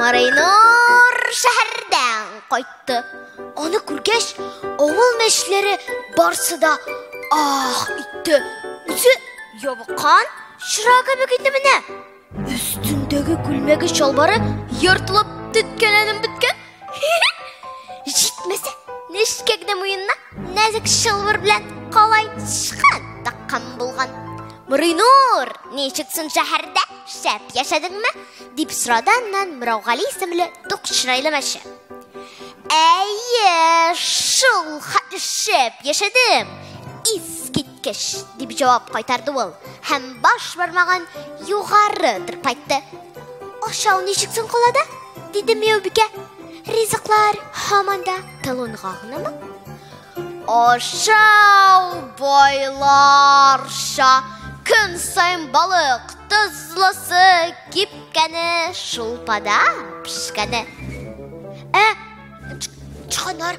Марайнур шәһәрдән кайтты. Аны күргәч, авыл мәчләре барсы да ах итте. Үзе ябыккан чыра кебек иде менә. Өстендәге күлмәге чалбары ертылып төткәләнеп беткән. Җитмәсә, нечкә генә муенына нәзек чалбар белән калай сычкан таккан булган. Муринур, ничек соң шәһәрдә? Шәп яшәдеңме? дип сорады аннан Мираугали исемле тук чырайлы мәче. Әйе, шул хәтле шәп яшәдем. Искит Кеш, дип җавап кайтарды ул, һәм баш бармагын югары тырпайтты. Ашау ничек соң калада? диде Мияубикә. Ризыклар һаман да талонга гынамы? Ашау байларша көн саен балык тозлысы кипкәне шулпада пешкәне. Ә чыганар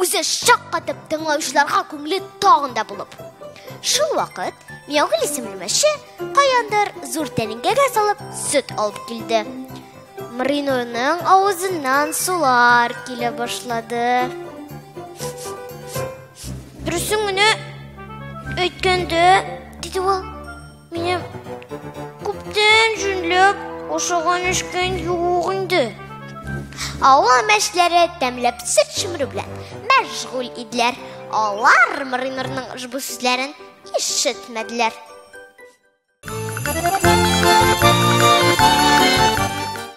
Үзе шаккатып тыңлаучыларга күңеле тагын да булып. Шул вакыт Миягөл исемле мәче каяндыр зур тәлинкәгә салып сөт алып килде. Мринурның авызыннан сулар килә башлады. Дөресен генә әйткәндә, диде ул. Минем күптән җүнләп ашаган эшкән юк инде. Авыл мәшләре тәмләп сыр чөмерү белән мәшгуль иделәр. Алар Маринорның ошбу сүзләрен ишетмәделәр.